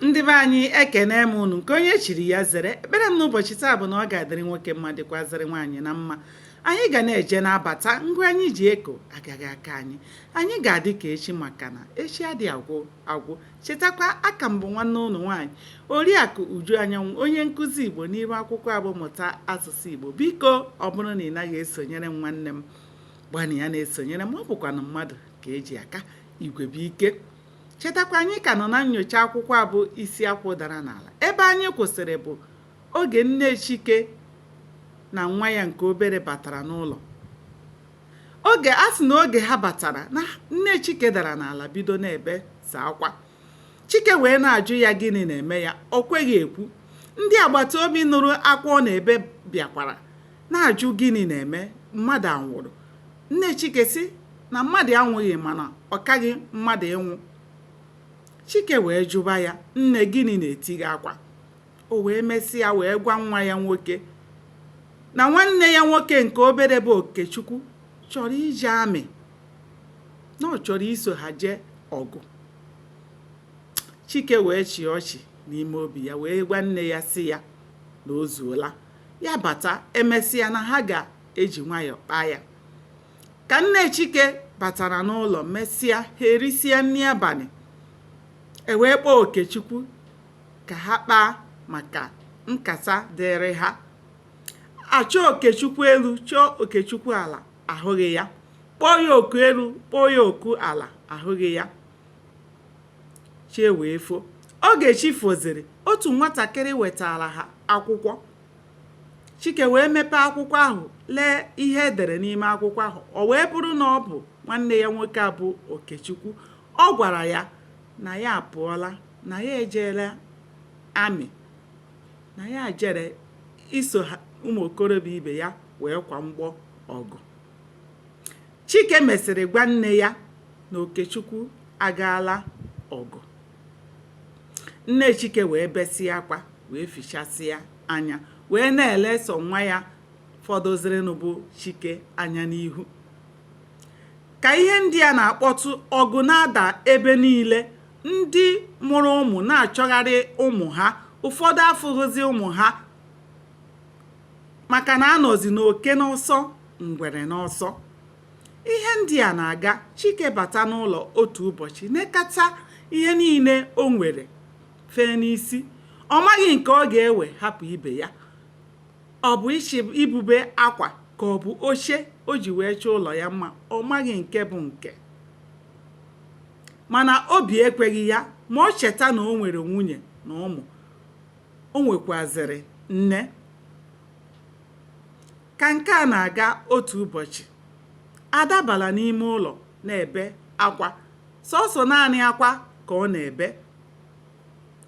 ndị be anyị ekene m unu nke onye chiri ya zere ekpere m n'ụbọchị taa bụ na ọ ga-adịrị nwoke mma dịkwazịrị nwaanyị na mma anyị ga na-eje na-abata ngwa anyị ji eko agaghị akọ anyị anyị ga-adị ka echi maka na echi adị agwụ agwụ chetakwa a ka m bụ nwanne unu nwaanyị oriakụ uju anyanwụ onye nkụzi igbo n'iru akwụkwọ a bụ mụta asụsụ igbo biko ọ bụrụ na ị naghị esonyere m nwanne m gbanịa na-esonyere m ọ bụkwanụ mmadụ ka e ji aka igwe bụ ike Chetakwa, anyị ka nọ na nnyocha akwụkwọ a bụ Isi Akwụ Dara n'Ala. Ebe anyị kwụsịrị bụ oge nne Chike na nwa ya nke obere batara n'ụlọ. Oge a sị na oge ha batara, na nne Chike dara n'ala bido na-ebesa akwa. Chike wee na-ajụ ya gịnị na-eme ya, o kweghị ekwu. Ndị agbata obi nụrụ akwa ọ na-ebe bịakwara na-ajụ gịnị na-eme, mmadụ anwụrụ. Nne Chike sị na mmadụ anwụghị mana ọ kaghị mmadụ ịnwụ. Chike wee jụba ya, nne gịnị na-eti gị akwa? O wee mesịa wee gwa nwa ya nwoke na nwanne ya nwoke nke obere bụ Okechukwu chọrọ ije amị na ọ chọrọ iso ha jee ọgụ. Chike wee chịa ọchị n'ime obi ya wee gwa nne ya sị ya na o zuola ya bata e mesịa na ha ga eji nwayọọ kpaa ya ka nne chike batara n'ụlọ mesịa ha erisịa nri abalị e wee kpọọ okechukwu ka ha kpaa maka nkata dịrị ha a chọọ okechukwu elu chọọ okechukwu ala ahụghị ya kpọọ ya oku elu kpọọ ya oku ala ahụghị ya chi wee fo oge chi foziri otu nwatakịrị wetara ha akwụkwọ Chike wee mepee akwụkwọ ahụ lee ihe e dere n'ime akwụkwọ ahụ. O wee bụrụ na ọ bụ nwanne ya nwoke a bụ Okechukwu. Ọ gwara ya na ya apụọla, na ya ejeela amị, na ya jere iso ụmụ okorobịa ibe ya wee kwa mgbọ ọgụ. Chike mesịrị gwa nne ya na Okechukwu agaala ọgụ. nne chike wee besịa akwa wee fichasịa anya wee na-ele sọ nwa ya fọdụzịrịnụ bụ chike anya n'ihu ka ihe ndị a na-akpọtụ ọgụ na-ada ebe niile ndị mụrụ ụmụ na-achọgharị ụmụ ha ụfọdụ afụghịzi ụmụ ha maka na a nọzi n'oke n'ọsọ ngwere n'ọsọ Ihe ndị a na-aga, Chike bata n'ụlọ otu ụbọchị nekata ihe niile o nwere fee n'isi. Ọ maghị nke ọ ga-ewe hapụ ibe ya. Ọ bụ ịchị ibube akwa ka ọ bụ oche o ji wee chọọ ụlọ ya mma, ọ maghị nke bụ nke. Mana obi ekweghị ya ma o cheta na o nwere nwunye na ụmụ. O nwekwuazịrị nne. Ka nke a na-aga otu ụbọchị, Ada bara n'ime ụlọ na-ebe akwa. Sọọsọ naanị akwa ka ọ na-ebe.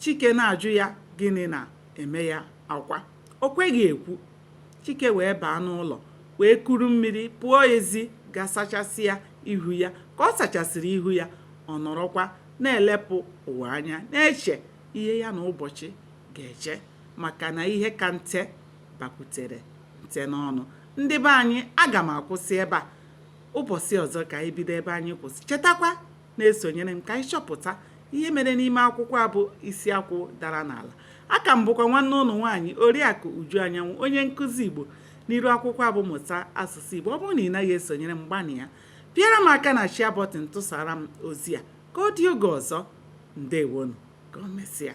Chike na-ajụ ya gịnị na-eme ya akwa. O kweghị ekwu. Chike wee baa n'ụlọ wee kuru mmiri pụọ ezi ga sachasịa ihu ya. Ka ọ sachasịrị ihu ya, ọ nọrọkwa na-elepụ ụwa anya na-eche ihe ya na ụbọchị ga-eche maka na ihe ka nte. bakwutere nte n'ọnụ ndị be anyị aga m akwụsị ebe a ụbọchị ọzọ ka anyị bido ebe anyị kwụsị chetakwa na-esonyere m ka anyị chọpụta ihe mere n'ime akwụkwọ a bụ isi akwụ dara n'ala aka m bụkwa nwanne ụnụ nwaanyị oriakụ uju anyanwụ onye nkụzi igbo n'iru akwụkwọ a bụ mụta asụsụ igbo ọ bụrụ na ị naghị esonyere m gbanịa pịara m aka na share button tụsara m ozi a ka ọ dị oge ọzọ ndewonu ka o mesịa